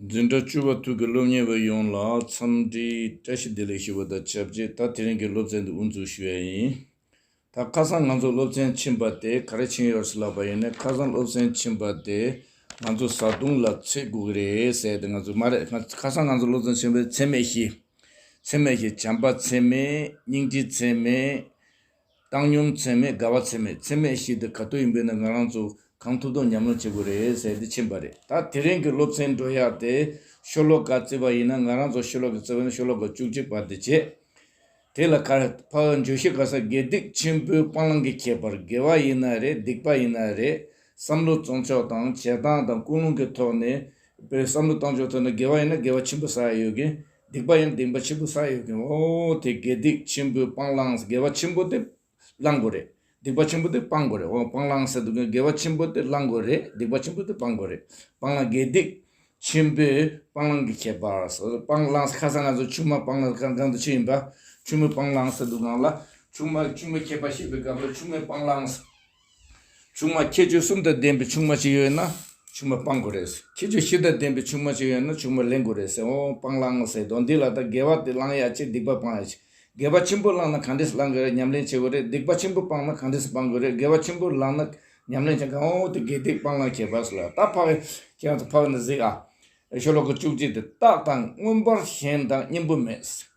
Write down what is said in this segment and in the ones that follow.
འཛིན་གྲྭ་བཅུ་བ་དྲུག་གི་སློབ་གཉེར་བ་ཡོངས་ལ་འཚམས་འདྲིའི་བཀྲ་ཤིས་བདེ་ལེགས་ཞུ་བ་དང་ཆབས་ཅིག་ད་དེ་རིང་གི་སློབ་ཚན་འདི་དབུ་འཛུགས་ཞུ་ཡ་ཡིན། ད་ཁ་སང་ང་ཚོ་སློབ་ཚན་ཕྱིན་པ་དེ་ག་རེ་ཕྱིན་ཡོད་ཟེར་ལབ་པ་ཡིན་ནའི་ཁ་སང་སློབ་ཚན་ཕྱིན་པ་དེ་ང་ཚོ་བཟའ་བཏུང་ལ་ཚེ་དགུ་གི་རེད་ཟེར་ཏེ་ང་ཚོས་མ་རེད་ཁ་སང་ང་ཚོ་སློབ་ཚན་ཕྱིན་པ་ཚེ་སྨད་བཞི། ཚེ་སྨད་བཞི་བྱམས་པ་ཚེ་སྨད་སྙིང་རྗེ་ཚེ་སྨད། བཏང་སྙོམས་ཚད་མེད་དགའ་བ་ཚད་མེད་ཚད་མེད་ཞིག་དེ་ག་དུས་ཡིན་པའི་ནང་ང་རང་ཚོ་གང་ཐུབ་ཐུབ་ཉམས་སྣང་བྱེད་དགོས་རེད་ཟེར་ཏེ་ཕྱིན་པ་རེད་ད་དེ་རིང་གི་སློབ་ཚན་འགྲོ་བཞག་སྟེ་ཤོ་ལོ་ཀ་བརྩི་བ་ཡིན་ན་ང་རང་ཚོ་ཤོ་ལོ་ཀའི་བརྩི་བ་ནི་ཤོ་ལོ་ཀ་བཅུ་གཅིག་བར་དུ་བྱས། དེ་ལ་ཁར་འཕགས་འགྱོད་གཞི་ག་ས་དགེ་སྡིག་ཆེན་པོའི་སྤང་བླང་གི་ཁྱད་པར་དགེ་བ་ཡིན་ན་རེད་སྡིག་པ་ཡིན་ན་རེད་བསམ་བློ་བཙོང་ཕྱོགས་དང་བྱེད་སྟངས་དང་ཀུན་སློང་གི་ཐོག་ནས་བསམ་བློ་བཏང་ཕྱོགས་ཐོག་ནས་དགེ་བ་ཡིན་ན་དགེ་བ་ཆེན་པོ་ས་ཡ་ཡོད་ཀྱི་སྡིག་པ་ཡང་སྡིག་པ་ཆེན་པོ་ས་ཡོད་མཁན་འོ་དེ་དགེ་སྡིག་ཆེན་པོའི་སྤང་བླང་དགེ་བ་ཆེན་པོ་དེ་བླང་དགོས་རེད་སྡིག་པ་ཆེན་པོ་དེ་སྤང་དགོས་རེད་འོ་སྤང་བླང་ཟེར་འདུག་མཁན་དགེ་བ་ཆེན་པོ་དེ་བླང་དགོས་རེད་སྡིག་པ་ཆེན་པོ་དེ་སྤང་དགོས་རེད་སྤང་བླང་དགེ་སྡིག་ཆེན་པོའི་སྤང་བླང་གི་ཁྱད་པར་སྤང་བླང་ཁ་སང་ང་ཚོ་ཆུང་མ་སྤང་བླང་གང་གང་དུ་ཕྱིན་ཡིན་པ་ཆུང་མའི་སྤང་བླང་ཟེར་འདུག་གང་ལ་ཆུང་མ་ཆུང་མའི་ཁྱད་པར་བཤད་པའི་སྐབས་ལ་ཆུང་མའི་སྤང་བླང། ཆུང་མ་ཁྱད་ཆོས་གསུམ་དང་ལྡན་པའི་ཆུང་མ་ཞིག་ཡོད་ན་ཆུང་མ་སྤང་དགོས་རེད། ཁྱད་ཆོས་བཞི་དང་ལྡན་པའི་ཆུང་མ་ཞིག་ཡོད་ན་ཆུང་མ་ལེན་དགོས་རེད་ཟེར་འོང་སྤང་བླང་ངོ་ཟེར་དོ་འདི་ལ་ད་དགེ་བ་དེ་བླང་ཡག་ཆེ་སྡིག་པ་སྤང་ཡག་ཆེ། དགེ་བ་ཆེན་པོ་བླངས་ན་གང་འདྲས་སུ་བླང་དགོས་རེད་ཉམས་ལེན་བྱེད་དགོས་རེད་སྡིག་པ་ཆེན་པོ་སྤངས་ན་གང་འདྲས་སུ་སྤང་དགོས་རེད་དགེ་བ་ཆེན་པོ་བླངས་ན་ཉམས་ལེན་བྱེད་གང་འོང་དེ་དགེ་སྡིག་སྤང་བླང་ཁྱད་པར་སུ་ལ་ད་འཕགས་ཡོད་ཁྱེད་རང་ཚོ་འཕགས་ནས་གཟིགས་ཨ། ཞོ་ལོ་ཀ་བཅུ་གཅིག་དེ་རྟགས་དང་མངོན་པར་ཞེན་དང་གཉེན་པོ་མེད།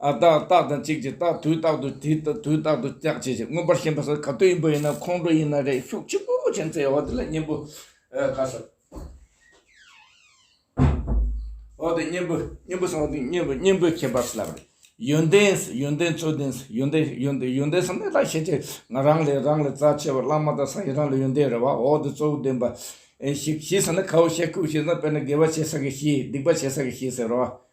ཨ་རྟགས་རྟགས་དང་གཅིག་ཅིག་རྟགས་དུས་རྟག་ཏུ་དེ་ལྟ་དུས་རྟག་ཏུ་སྐྱག་བྱེད་ཅིག་མངོན་པར་ཞེན་པ་སོགས་ག་དུས་ཡིན་པ་ཡིན་ན་ཁོང་ཁྲོ་ཡིན་ན་རེག་ཤུགས་ལྕི་པོ་ཅན་ཚེ་འོག་དེ་ལ་གཉེན་པོ་ག་ས་འོག་དེ་གཉེན་པོ་གཉེན་པོ་ས་འོག་དེ་གཉེན་པོ་གཉེན་པོའི་ཁྱད་པར་སུ་ལ་བར། ཡོན་ཏན་ཡོན་ཏན་ཚུལ་ལྡན་ཡོན་ཏན་ཡོན་ཏན་ཡོན་ཏན་སམ་ནི་ལ་ཤེས་བྱའི་ང་རང་ལས་རང་ལས་རྩ་ཆེ་བ་བླ་མ་དང་ས་ཡི་རང་ལ་ཡོན་ཏན་རེ་བ་འོག་དེ་གཙོ་བོ་བདེན་པ། ཞིག་ཞེས་ཟེར་ན་ཁའོ་ཤས་ཁུག་ཤེས་ན་དཔེར་ན་དགེ་བ་བྱེད་ས་གི་ཤེས་སྡིག་པ་བྱེད་ས་གི་ཤེས་ཟེར་རོ།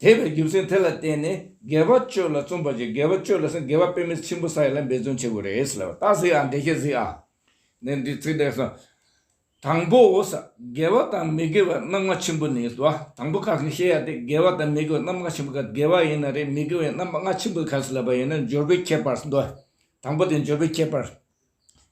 དེ་བས་རྒྱུ་མཚན་དེ་ལ་བརྟེན་ནས་དགེ་བ་སྤྱོད་ལ་བརྩོན་པ་བྱས་དགེ་བ་སྤྱོད་ལ་ཟིན་དགེ་བ་དཔེ་མེད་ཆེན་པོ་ས་ཡ་ལ་འབད་བརྩོན་བྱེད་དགོས་རེད་ཟེར་བ་ལྟ་ཟིག་ཨ་འགྲེལ་བྱེད་ཟིག་ཨ། ནས་འདིའི་ཚིག་འགྲེལ་སོང། དང་པོ་འོ་ས་དགེ་བ་དང་མི་དགེ་བ་རྣམ་ལྔ་ཆེན་པོ་ནས་སོ། དང་པོ་ཁ་ཟིག་ཤེས་ཡ་དེ་དགེ་བ་དང་མི་དགེ་བ་རྣམ་ལྔ་ཆེན་པོ་ཁ་ཟིག་དགེ་བ་ཡིན་ན་རེད་མི་དགེ་བའི་རྣམ་ལྔ་ཆེན་པོ་ཁ་ཟིག་ལབ་པ་ཡིན་ན་འབྱོར་པའི་ཁྱད་པར་སོ། དང་པོ་དེ་འབྱོར་པའི་ཁྱད་པར།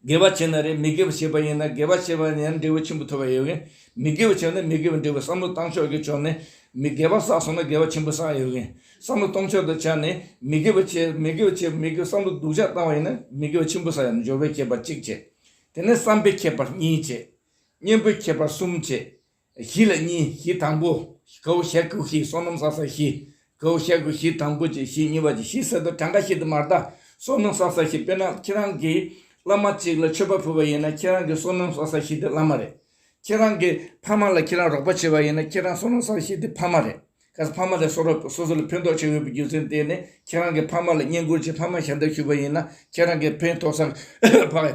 དགེ་བ་བྱས་ན་རེད་མི་དགེ་བ་བྱས་པ་ཡིན་ན་དགེ་བ་བྱས་པ་ཡིན་ན་འབྲས་བུ་ཆེན་པོ་ཐོབ་པ་ཡོད་གིན། མི་དགེ་བ་བྱས་ན་མི་དགེ་བའི་འབྲས་བུ་བསམ་བློ་བཏང་ཕྱོགས་ཀྱི་ཕྱོགས་ནས། མི་དགེ་བ་བསགས་སོང་ན་དགེ་བ་ཆེན་པོ་བསགས་ཡོད་གིན། བསམ་བློ་གཏོང་ཕྱོགས་དང་ཆ་ནས་མི་དགེ་བ་བྱས་མི་དགེ་བ་བྱས་མི་དགེ་བ་བསམ་བློ་སྡུག་ཅག་བཏང་བ་ཡིན་ན་མི་དགེ་བ་ཆེན་པོ་བསགས་ཡོད་ན་སྦྱོར་བའི་ཁྱད་པར་གཅིག་བྱེད། དེ་ནས་བསམ་པའི་ཁྱད་པར་གཉིས་བྱེད། གཉེན་པོའི་ཁྱད་པར་གསུམ་བྱེད། བཞི་ལ་གཉིས་བཞི་དང་པོ། གའུ་ཞལ་ཀུ་ཤའི་སོ་ནམ་སྲ་ས་བཞི། གའུ་ཞལ་ཀུ་ཤའི་དང་པོ་བཅུ་བཞི་གཉིས་པ་ཅིག་བཞི་གསེར་རྡོ་གྲངས་ཀ་བཞི་དུ་མར་བཟླ། སོ་ནམ་སྲ་ས་བཞི་དཔེར་ན་ཁྱེད་རང་གིས་བླ་མ་གཅིག་ལ་མཆོད་པ་ཕུལ་བ་ཡིན་ན་ཁྱེད་རང་གི་སོ་ནམ་སྲ་ས་བཞི་དེ་བླ་མ་རེད། ཁྱེད་རང་གི་ཕ་མ་ལ་ཁྱེད་རང་རོགས་པ་བྱས་པ་ཡིན་ན་ཁྱེད་རང་སོ་ནམ་སྲ་ས་བཞི་དེ་ཕ་མ་རེད། གལ་སྲིད་ཕ་མ་ལས་སོ་ར་སོ་སོ་ལ་ཕན་ཐོགས་བྱེད་འོས་པའི་རྒྱུ་མཚན་བསྟན་ནས་ཁྱེད་རང་གི་ཕ་མ་ལ་བསྙེན་བཀུར་གྱིས་ཕ་མ་ཞལ་འདེབས་ཞུས་པ་ཡིན་ན་ཁྱེད་རང་གིས་ཕན་ཐོགས་ས་ཕ།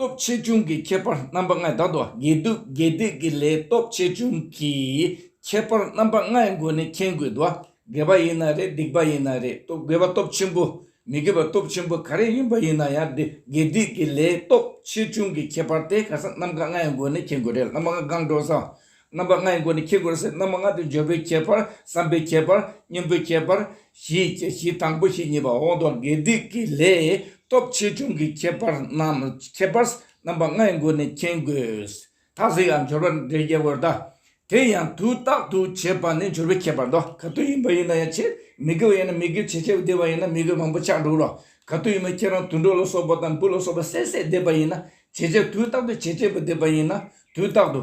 སྟོབས་ཆེ་ཆུང་གི་ཁྱད་པར་རྣམ་པ་ལྔས་བདག་དང་དགེ་སྡུག་དགེ་སྡིག་གི་ལས་སྟོབས་ཆེ་ཆུང་གི་ཁྱད་པར་རྣམ་པ་ལྔའི་སྒོ་ནས་མཁྱེན་དགོས་དོ། དགེ་བ་ཡིན་ན་རེད་སྡིག་པ་ཡིན་ན་རེད་སྟོབས་དགེ་བ་སྟོབས་ཆེན་པོ་མི་དགེ་བ་སྟོབས་ཆེན་པོ་ག་རེ་ཡིན་པ་ཡིན་ན་ཡང་དེ་དགེ་སྡིག་གི་ལས་སྟོབས་ཆེ་ཆུང་གི་ཁྱད་པར་དེ་ག་ས་རྣམ་ག་ལྔའི་སྒོ་ནས་མཁྱེན་དགོས་རེད་བླ་མ་ལྔ་སྒང་དྲོ་བཟང་རྣམ་པ་ལྔའི་སྒོ་ནས་ཁྱེར་དགོས་ཟེར་རྣམ་པ་ལྔ་དེ་སྦྱོར་པོའི་ཁྱད་པར་བསམ་པའི་ཁྱད་པར་གཉེན་པོའི་ཁྱད་པར་བཞི་བཅས་བཞི་དང་པོ་བཞི་གཉིས་པ་འོག་འདོགས་དགེ་སྡིག་གི་ལས་སྟོབས་ཆེ་ཆུང་གི་ཁྱད་པར་རྣམས་ཁྱད་པར་རྣམ་པ་ལྔའི་སྒོ་ནས་མཁྱེན་དགོས། ཐ་ཚིག་ལ་འབྱོར་པ་འདྲེ་རྒྱལ་བོར་གདའ། དེ་ཡང་དུས་རྟག་ཏུ་བྱེད་པ་ནི་སྦྱོར་བོའི་ཁྱད་པར་ཏོ། ག་དུས་ཡིན་པ་ཡིན་ན་ཡང་ཆེས་མི་དགེ་བ་ཡིན་ན་མི་དགེ་བྱེད་ཆེས་བདེ་བ་ཡིན་ན་མི་དགེ་བ་མང་པོ་ཆགས་འགྲོ་རོ། ག་དུས་ཡིན་པ་ཁྱེད་རང་དུད་འགྲོ་ལ་སོགས་པ་དང་འབུ་ལ་སོགས་པ་བསད་བསད་བསྡད་པ་ཡིན་ན་བྱེད་ཆེས་དུས་རྟག་ཏུ་བྱེད་ཆེས་པ་བསྡད་པ་ཡིན་ན་དུས་རྟག་ཏུ།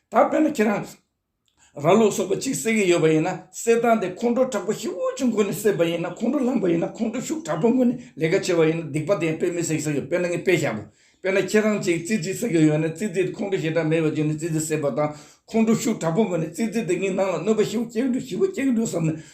ད་དཔེར་ན་ཁྱེད་རང་ར་ལུག་སོགས་པ་གཅིག་བསད་ཀྱི་ཡོད་པ་ཡིན་ན་བསད་སྟངས་དེ་ཁོང་ཁྲོ་དྲག་པོ་ཧེ་བོ་ཅིག་མགོ་ནས་བསད་པ་ཡིན་ན་ཁོང་ཁྲོ་ལངས་པ་ཡིན་ན་ཁོང་ཁྲོ་ཤུགས་དྲག་པོ་མགོ་ནས་ལས་ཀ་བྱས་པ་ཡིན་ན་སྡིག་པ་དེ་ཡང་དཔེ་མི་བསད་ཀྱི་ས་ཡོད་དཔེར་ན་ངས་དཔེ་བཞག་པ་དཔེར་ན་ཁྱེད་རང་གཅིག་ཙི་ཙི་བསད་ཀྱི་ཡོད་ན་ཙི་ཙི་དེ་ཁོང་ཁྲོ་ཞེ་དྲག་མེད་པ་བྱས་ནས་ཙི་ཙི་བསད་པ་དང་ཁོང་ཁྲོ་ཤུགས་དྲག་པོ་མགོ་ནས་ཙི་ཙི་དེ་ངའི་ནང་ལ་གནོད་པ་ཞི་བོ་སྐྱེལ་གི་འགྲོ་ཞི་བོ་སྐྱེལ་གི་འགྲོ་བསམ་ནས་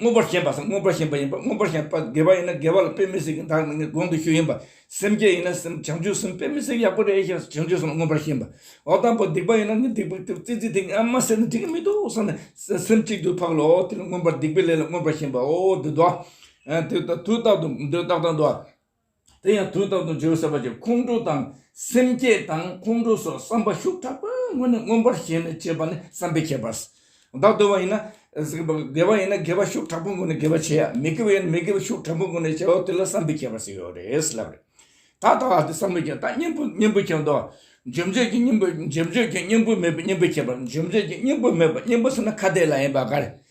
མངོན་པར་ཞེན་པ་སམ་མངོན་པར་ཞེན་པ་ཡིན་པ་མངོན་པར་ཞེན་པ་དགེ་བ་ཡིན་ན་དགེ་བ་ལ་དཔེ་མི་སྲིད་ཀྱི་བདག་མེད་ངས་དགོངས་ཏུ་ཞུ་ཡིན་པ། སེམས་བསྐྱེད་ཡིན་ན་སེམས་བྱང་ཆུབ་སེམས་དཔེ་མི་སྲིད་ཡག་པོ་རེད་ཞེས་བྱང་ཆུབ་སེམས་ལ་མངོན་པར་ཞེན་པ། འོ་དང་པོ་སྡིག་པ་ཡིན་ན་ངས་སྡིག་པ་ཀྱི་རྩིས་རྩིས་དེ་ངས་མ་བསལ་ན་འགྲིག་གི་མི་འདུག་བསམ་ནས་སེམས་གཅིག་ཏུ་འཕགས་ལོ་དེ་ལ་མངོན་པར་སྡིག་པའི་ལས་ལ་མངོན་པར་ཞེན་པའོ། འདི་ལྟ་བུ། དུས་རྟག་ཏུ་འདི་རྟག་ཏུ་འདུ་བ། དེ་ཡང་དུས་རྟག་ཏུ་འཇིགས་སེལ་བ་ཅན་ཁོང་ཁྲོ་དང་སེམས་བསྐྱེད་དང་ཁོང་ཁྲོ་སོགས་བསམ་པ་ཤུགས་དྲག་པོས་སྔོན་ནས་མངོན་པར་ཞེན་ནས་བྱེད་པ་ནི་བསམ་པའི་ཁྱད་པར། བདག་དགེ་བ་ཡིན་ན་དགེ་བ་ཡིན་ན་དགེ་བ་ཤུགས་དྲག་པོས་མགོ་ནས་དགེ་བ་བྱེད་ཡ་མི་དགེ་བ་ཡིན་ན་མི་དགེ་བ་ཤུགས་དྲག་པོས་མགོ་ནས་བྱེད་ཨོ་དེ་ལ་བསམ་པའི་ཁྱད་པར་ཞིག་ཡོད་རེད་ཟེར་ལབ་པ་རེད། ད་ལྟ་ཨ་དེ་བསམ་བློའི་ཁྱད་ད་སྙིང་པོ་སྙིང་པོའི་ཁྱད་མདོ་འཇོམས་བྱེད་ཀྱི་སྙིང་པོ་འཇོམས་བྱེད་ཀྱི་སྙིང་པོ་མེད་པའི་སྙིང་པོའི་ཁྱད་པར་འཇོམས་བྱེད་ཀྱི་སྙིང་པོ་མེད་པ་སྙིང་པོ་ཟེར་ན་ཁ་བརྡའི་ལ་ཡིན་པ་ག་རེ།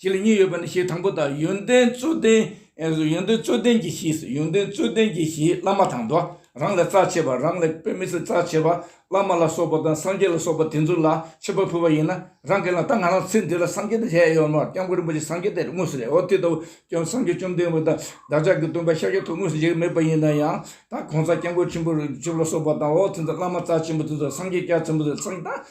ཞེས་གཉིས་ཡོད་པ་ནི་ཞེས་དང་པོ་དང་ཡོན་ཏན་རྩོད་ལྡན། ཡོན་ཏན་རྩོད་ལྡན་གྱི་ཞེས་སོ་ཡོན་ཏན་རྩོད་ལྡན་གྱི་ཞེས་བླ་མ་དང་དུ་རང་ལས་རྩ་ཆེ་བ་རང་ལས་དཔེ་མི་སྲིད་རྩ་ཆེ་བ་བླ་མ་ལ་སོགས་པ་དང་སངས་རྒྱས་ལ་སོགས་པ་དེ་ཚོ་ལ་ཆེ་བ་ཕུལ་བ་ཡིན་ན་རང་གི་ལ་ད་ང་རང་ཚེ་འདི་ལ་སངས་རྒྱས་དང་ལྷའི་ཡོན་མོ་སྐྱབས་མགོན་རིན་པོ་ཆེ་སངས་རྒྱས་དེ་དངོས་སུ་རེད་འོ་དེ་ལྟ་བུ་སྐྱབས་སངས་རྒྱས་བཅོམ་ལྡན་འདས་དང་བདག་ཅག་གི་སྟོན་པ་ཤཱཀྱ་ཐུབ་དངོས་སུ་མཇལ་གྱི་མེད་པ་ཡིན་ན་ཡང་ད་གོང་ས་སྐྱབས་མགོན་ཆེན་པོ་རིན་ཆེན་ལ་སོགས་པ་དང་འོ་དེ་ཚོ་བླ་མ་རྩ་ཆེན་པོ་དེ་ཚོ་སངས་རྒྱས་སྐྱབས་ཆེན་པོ་དེ་ཚོ་སངས་རྒྱས་དང་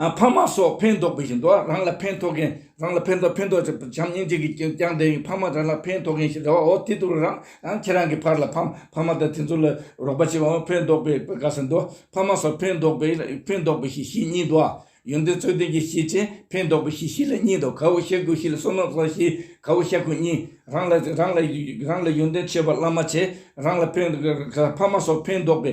འཕགས་མ་སོགས་ཕན་འདོགས་པའི་བཞིན་དུ་རང་ལ་ཕན་ཐོགས་མཁན་རང་ལ་ཕན་ཐོགས་ཕན་ཐོགས་བྱམས་སྙིང་རྗེ་གིས་ཀྱང་དེ་བཞིན་འཕགས་མ་རང་ལ་ཕན་ཐོགས་མཁན་ཞེས་བྱ་བའོ་དེ་ལྟ་བུ་རང་ཁྱེད་རང་གི་ཕར་ལ་འཕགས་མ་དང་དེ་ཚོ་ལ་རོགས་པ་བྱེད་པའང་ཕན་འདོགས་པའི་བཀའ་ཟེར་དུ་འཕགས་མ་སོགས་ཕན་འདོགས་པའི་ཕན་འདོགས་པའི་གཞི་ཤེས་གཉིས་དུའོ། ཡོན་ཏན་རྩོད་ལྡན་གྱི་གཞི་ཆེ་ཕན་འདོགས་པའི་གཞི་ཤེས་ལ་གཉིས་དུ་གའུ་ཤ་ཀུ་ཤི་ལ་སོགས་ནོར་བཟང་ཤེས་གའུ་ཤ་ཀུ་གཉིས། རང་ལ་ཡོན་ཏན་ཆེ་བ་བླ་མ་ཆེ་རང་ལ་ཕན་འཕགས་མ་སོགས་ཕན་འདོགས་པའི་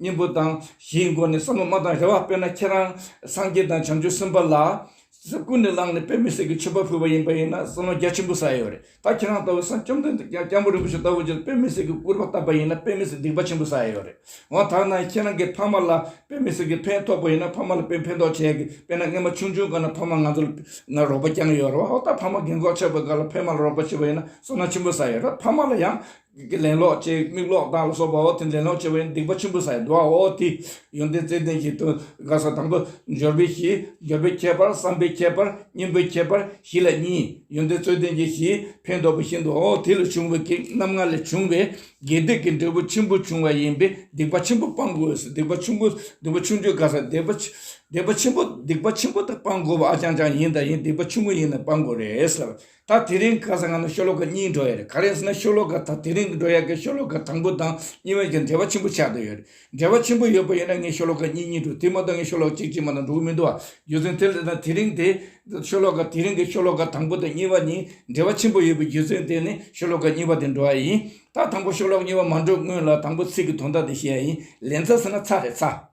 གཉེན་པོ་དང་བཞིའི་སྒོ་ནས་བསམ་བློ་མ་བཏང་རེ་བ་དཔེར་ན་ཁྱེད་རང་སངས་རྒྱས་དང་བྱང་ཆུབ་སེམས་དཔའ་ལ། ཀུན་ནས་བསླངས་ནས་དཔེ་མི་སྲིད་ཀྱི་མཆོད་པ་ཕུལ་བ་ཡིན་པ་ཡིན་ན་བསམ་བློ་རྒྱ་ཆེན་པོ་ཟ་ཡི་ཡོད་རེད་ད་ཁྱེད་རང་ལྟ་བུ་སངས་བཅོམ་ལྡན་འདས་སྐྱབས་མགོན་རིན་པོ་ཆེ་ལྟ་བུ་རྗེས་སུ་དཔེ་མི་སྲིད་ཀྱི་སྐུར་པ་བཏབ་པ་ཡིན་ན་དཔེ་མི་སྲིད་སྡིག་པ་ཆེན་པོ་ཟ་ཡི་ཡོད་རེད་འོ་ད་ནངས་ཁྱེད་རང་གི་ཕ་མ་ལ་དཔེ་མི་སྲིད་ཀྱི་ཕན་ཐོགས་པ་ཡིན་ན་ཕ་མ་ལ་དཔེ་ཕན་ཐོགས་བྱས་ཀྱི་དཔེར་ན་སྔས་མ་ཆུང་ཆུང་སྐར་ན་ཕ་མ་ང་ཚོ་ལ་རོགས་པ་བསྐྱངས་ཡོད་རེད་བ་འོ་ད་ཕ་མ་རྒན་གོག་ཆགས་པའི་སྐར་ལ་ཕས་མ་ལ་རོགས་པ་བྱས་པ་ཡིན་ན་བསམ་བློ་ཆེན་པོ་ཟ་ཡི་ཡོད་རེད་ཕ་མ་ལ་ཡང་རྒྱུད་ཀྱི་ལན་ལོག་ཅེས་མིག་ལོག་དང་ལ་སོགས་པའོ། དེ་ལན་ལོག་བྱེད་པའི་སྡིག་པ་ཆེན་པོ་ས་ཡི་དུ་བའོ། དེ་ཡོན་ཏན་རྩེ་ལྡན་གྱི་དོན་དགག་ས་དང་པོ་སྦྱོར་བའི་གཞི། སྦྱོར་བའི་ཁྱད་པར་བསམ་པའི་ཁྱད་པར་གཉེན་པོའི་ཁྱད་པར་གཞི་ལ་གཉིས། ཡོན་ཏན་རྩོད་ལྡན་གྱི་གཞི་ཕན་འདོགས་པ་བཞིན་དུའོ། དེ་ལས་བྱུང་བའི་གེགས་རྣམ་ལྔ་ལས་བྱུང་བའི་དགེ་སྡིག་གི་འབྲས་བུ་ཆེན་པོ་འབྱུང་བ་ཡིན་པས་སྡིག་པ་ཆེན་པོ་སྤང་དགོས་སོ། སྡིག་པ་ཆུང་ངུ་སྡིག་པ་ཆུང་ཆུང་དགག་ས་སྡིག་པ་སྡིག་པ་ཆེན་པོ་སྡིག་པ་ཆེན་པོ་དག་སྤང་དགོས་པ་ཨ་ཅང་ཅང་ཡིན་དང་ཡིན་སྡིག་པ་ཆུང་ངུ་ཡིན་ན་སྤང་དགོས་རེད། ད་དེ་རིང་ག་སང་ང་ནི་ཤོ་ལོ་ཀ་གཉིས་འགྲོ་ཡས་རེད་ག་རེ་ཟེར་ན་ཤོ་ལོ་ཀ་ད་དེ་རིང་གི་འགྲོ་ཡས་ཀྱི་ཤོ་ལོ་ཀ་དང་པོ་དང་གཉིས་བར་གྱི་འབྲེལ་བ་ཆེན་པོ་ཆགས་འདོད་ཡོད་རེད་འབྲེལ་བ་ཆེན་པོ་ཡོད་པ་ཡིན་ན་ངས་ཤོ་ལོ་ཀ་གཉིས་གཉིས་འགྲོ་དེ་མ་གཏོགས་ངས་ཤོ་ལོ་ཀ་གཅིག་གཅིག་མ་གཏོགས་འགྲོ་གི་མི་འདུག་ཨ་རྒྱུ་མཚན་དེ་ལས་ད་དེ་རིང་དེ་ཤོ་ལོ་ཀ་དེ་རིང་གི་ཤོ་ལོ་ཀ་དང་པོ་དང་གཉིས་བར་གཉིས་འབྲེལ་བ་ཆེན་པོ་ཡོད་པའི་རྒྱུ་མཚན་དེ་ནི་ཤོ་ལོ་ཀ་གཉིས་བར་དེ་འགྲོ་ཡས་ཡིན་ད་དང་པོ་ཤོ་ལོ་ཀ་གཉིས་བར་མ་འགྲོ་སྔོན་ལ་དང་པོ་ཚིག་གི་དོན་དག་དེ་ཤེས་ཡས་ཡིན་ལན་ཚ་ཟེར་ན་ཚ་རེད་ཚ།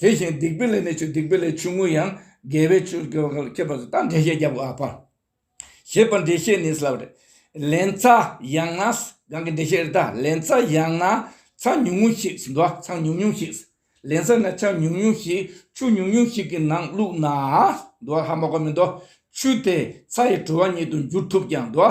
དེ་བཞིན་སྡིག་པའི་ལས་ནི་ཆུ་སྡིག་པའི་ལས་ཆུང་ངུ་ཡང་དགེ་བའི་ཆོས་སྐྱེ་བ་ལ་ཁྱབ་པར་བྱེད་དམ་འགྲེལ་བཤད་རྒྱབ་ཨ་པར། ཞེས་པ་འགྲེལ་བཤད་ནི་སླབས་རེད། ལན་ཚྭ་ཡང་ན། གང་གི་འགྲེལ་བཤད་རེད་ད། ལན་ཚྭ་ཡང་ན། ཚྭ་ཉུང་ངུ་ཞིག་ཟིན་ཏོ་ཚང་ཉུང་ཉུང་ཞིག། ལན་ཚྭ་ན་ཆང་ཉུང་ཉུང་ཞིག་ཆུ་ཉུང་ཉུང་ཞིག་གི་ནང་བླུགས་ན། འདུ་བ་ཧ་མ་གོ་མི་འདུག། ཆུ་དེ་ཚྭ་ཡི་དྲོ་བ་ཉིད་དུ་འགྱུར་ཐུབ་ཀྱང་འདུ་བ་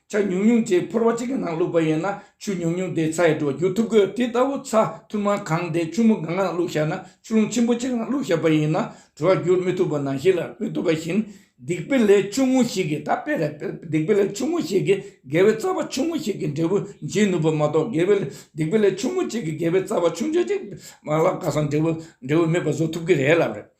ཆ་ཉུང་ཉུང་དེ་ཕོར་བ་གཅིག་གི་ནང་བླུགས་པ་ཡིན་ན་ཆུ་ཉུང་ཉུང་དེ་ཚ་ཡི་དྲོ་རྒྱུག་ཐུབ་གི་དེ་ལྟ་བུ་ཚ་ཐུར་མ་གང་དེ་ཆུ་མོ་གང་གི་ནང་བླུགས་བཞག་ན་ཆུ་རླུང་ཆེན་པོ་གཅིག་གི་ནང་བླུགས་བཞག་པ་ཡིན་ན་དྲོ་བ་རྒྱུར་མི་ཐུབ་པ་ནང་བཞིན་ལ་མི་ཐུབ་པ་བཞིན། སྡིག་པའི་ལས་ཆུང་ངུ་ཞིག་གིས་ད་དཔེ་རེད་སྡིག་པའི་ལས་ཆུང་ངུ་ཞིག་གིས་དགེ་བའི་རྩ་བ་ཆུང་ངུ་ཞིག་གི་འབྲས་བུ་འབྱིན་ནུས་པ་མ་གཏོགས་དགེ་བའི་སྡིག་པའི་ལས་ཆུང་ངུ་གཅིག་གིས་དགེ་བའི་རྩ་བ་ཆུང་ཆུང་གཅིག་མ་བརླག་ག་སོང་འབྲས་བུ་འབྲས་བུ་མེད་པ་བཟོ་ཐུབ་ཀྱི་རེད་ལབ་རེད།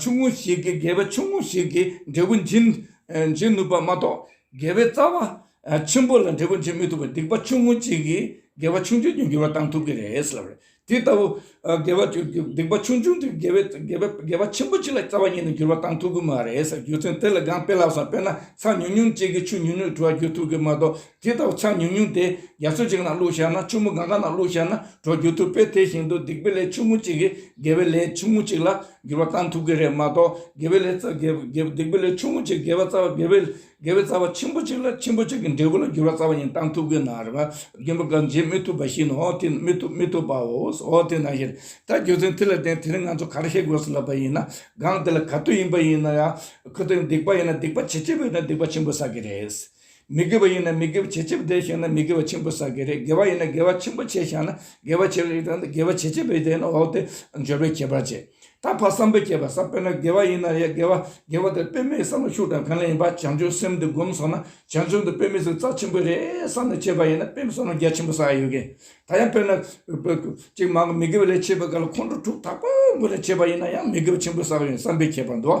ཆུང་ངུ་ཞིག་གིས་དགེ་བའི་ཆུང་ངུ་ཞིག་གི་འབྲས་བུ་འབྱིན་ནུས་པ་མ་གཏོགས་དགེ་བའི་རྩ་བ་ཆེན་པོ་ལ་འབྲས་བུ་འབྱིན་མི་ཐུབ་པར་སྡིག་པ་ཆུང་ངུ་གཅིག་གིས་དགེ་བ་ཆུང་ཆུང་གི་འགྱུར་བ་བཏང་ཐུབ་ཀྱི་རེད་ལབ་རེད། དེ་ལྟ་བུ་དགེ་བ་སྡིག་པ་ཆུང་ཆུང་དེ་དགེ་བ་ཆེན་པོ་གཅིག་ལ་རྩ་བ་ཉིད་ནས་འགྱུར་བ་བཏང་ཐུབ་ཀྱི་མ་རེད་ཟེར་རྒྱུ་མཚན་དེ་ལས་གང་སྤེལ་ལགས་སམ་དཔེར་ན་ཚྭ་ཉུང་ཉུང་གཅིག་གིས་ཆུ་ཉུང་ཉུང་གི་དྲི་བ་བསྒྱུར་ཐུབ་ཀྱི་མ་གཏོགས་དེ་ལྟ་བུ་ཆ་ཉུང་ཉུང་དེ་རྒྱ་མཚོ་གཅིག་ན་བླུགས་བཞག་ན་ཆུ་མོ་གང་ག་ན་བླུགས་བཞག་ན་གྲོགས་འགྱུར་ཐུབ་པས་དེ་བཞིན་དུ་སྡིག་པའི་ལས་ཆུང་ངུ་གཅིག་གིས་དགེ་བའི་ལས་ཆུང་ངུ་གཅིག་ལ་འགྱུར་བ་གཏང་ཐུབ་ཀྱི་རེད་མ་གཏོགས་དགེ་བའི་ལས་སྡིག་པའི་ལས་ཆུང་ངུ་གཅིག་དགེ་བ་རྩ་བ་དགེ་བའི་དགེ་བའི་རྩ་བ་ཆེན་པོ་གཅིག་ལ་ཆེན་པོ་གཅིག་གི་འབྲས་བུ་ལ་འགྱུར་བ་རྩ་བ་ཡིན་གཏང་ཐུབ་ཀྱི་ནའ་རེ་བ་རྒན་པོ་གང་བྱེད་མི་ཐུབ་པ་བཞིན་ནོ་དེ་མི་ཐུབ་མི་ཐུབ་པའོ་ཨོ་དེ་ནང་བཞིན་ད་རྒྱུ་མཚན་དེ་ལ་བརྟེན་དེ་རིང་ང་ཚོ་ག་རེ་བཤད་དགོས་སུ་ལབ་པ་ཡིན་ན་སྒང་དེ་ལ་ག་དུས་ཡིན་པ་ཡིན་ན་ཡང་ཁོ་ཚོས་སྡིག་པ་ཡིན་ན་སྡིག་པ་ཇེ་ཆེ་བས་ན་སྡིག་པ་ཆེན་པོ་བསགས་ཀྱི་རེད། མི་དགེ་བ་ཡིན་ན་མི་དགེ་བ་ཇེ་ཆེ་བ་དེ་བཞེངས་ན་མི་དགེ་བ་ཆེན་པོ་བསགས་ཀྱི་རེད་དགེ་བ་ཡིན་ན་དགེ་བ་ཆེན་པོ་ཆེ་བཞག་ན་དགེ་བ་ཆེ་བ་རེད་དེ་ཡང་དགེ་བ་ཇེ་ཆེ་བས་དེ་ཡང་ན་འོག་ཏུ་འབྱོར་བའི་ཁྱད་པར་ཆེ་ད་ཕ་བསམ་པས་བསྐྱེད་པ་ས་དཔེར་ན་དགེ་བ་ཡིན་ན་ཡང་དགེ་བ་དགེ་བ་དེ་དཔེ་མེད་བསམ་བློ་ཤུགས་དྲག་གང་ལ་ཡིན་པ་བྱང་ཆུབ་སེམས་འདི་སྒོམ་སོང་ན་བྱང་ཆུབ་འདི་དཔེ་མེད་ཟིག་རྩ་ཆེན་པོ་རེད་བསམ་ནས་བྱས་པ་ཡིན་ན་དཔེ་མེད་བསམ་བློ་རྒྱ་ཆེན་པོ་བསགས་ཡོད་གི་ད་ཡང་དཔེར་ན་ཅིག་མ་གོ་མི་དགེ་བ་ལས་བྱེད་པ་ག་ལ་ཁོང་ཁྲོ་དྲུག་དག་པོ་མགོ་ནས་བྱས་པ་ཡིན་ན་ཡང་མི་དགེ་བ་ཆེན་པོ་བསགས་ཡོད་བསམ་པས་བྱས་པ་འདུག་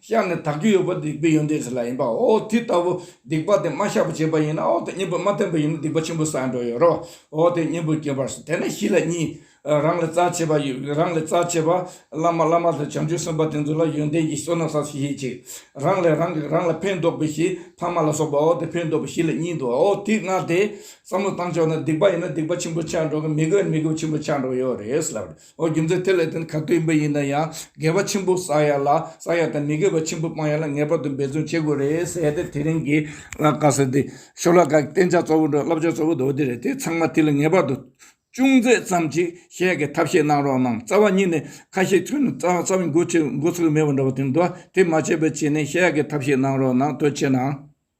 ཤ་ནི་དག་རྒྱུ་ཡོད་པ་སྡིག་པའི་ཡོན་ཏན་ཞིག་ལ་ཡིན་པའོ། དེ་ལྟ་བུ་སྡིག་པ་དེ་མ་ཤ་བུ་བྱེད་པ་ཡིན་ནའོ། དེ་གཉེན་པོས་མ་བསྟེན་པ་ཡིན་ན་སྡིག་པ་ཆེན་པོ་བསགས་འགྲོ་ཡོད་རོའོ། དེ་གཉེན་པོས་བསྐྱེད་པར་བྱེད་དེ་ནི་གཞི་ལ་གཉིས། རང་ལས་རྩ་ཆེ་བ། རང་ལས་རྩ་ཆེ་བ། བླ་མ་བླ་མ་ལས་བྱང་ཆུབ་སེམས་དཔའ་དེ་ཚོ་ལ་ཡོན་ཏན་གྱི་བསོད་ནམས་བསགས་ཤིང་ཞེས་གཅིག། རང་ལས་རང་གིས་རང་ལ་ཕན་འདོགས་པའི་གཞི་ཕ་མ་ལ་སོགས་པའོ། དེ་ཕན་འདོགས་པའི་གཞི་ལ་གཉིས་དུའོ། དེ་ལྔ་སྟེ། བསམ་བློ་བཏང་ཆོག་ན་སྡིག་པ་ཡིན་ན་སྡིག་པ་ཆེན་པོ་ཆགས་འགྲོ་གི་མི་དགེ་བ་ནི་མི་དགེ་བ་ཆེན་པོ་ཆགས་འགྲོ་གི་ཡོད་རེད་ཟེར་ལབ། ཨོ་རྒྱུ་མཚན་དེ་ལས་དོན་ག་དུས་ཡིན་པ་ཡིན་ན་ཡང་དགེ་བ་ཆེན་པོ་བསགས་ཡ་ལ་བསགས་ཡ་དང་མི་དགེ་བ་ཆེན་པོ་སྤང་ཡ་ལ་ངེས་པར་དུ་འབད་བརྩོན་བྱེད་དགོས་རེད་ཟེར་ཏེ་དེ་རིང་གི་ཀ་ཟེར་ཏེ་ཤོ་ལ་ཀ་གི་བསྟན་བྱ་གཙོ་བོ་འགྲོ་བསླབ་བྱ་གཙོ་བོ་དོ་དེ་རེད་དེ་ཚང་མ་དེ་ལ་ངེས་པར་དུ་ཅུང་མཛེས་ཙམ་ཅིག་བཤད་གི་ཐབས་ཤེས་གནང་རོགས་གནང་རྩ་བ་ཉིད་ནས་ཁ་ཤས་ཚུད་ན་རྩ་བ་མགོ་ཚུད་མགོ་ཚུད་མེད་པ་འདྲ་བ་དེ་འདུག་དེ་མ་བྱས་པའི་ཆེད་ནས་བཤད་གི་ཐབས་ཤེས་གནང་རོགས་གནང་དོན་ཆེ་ན།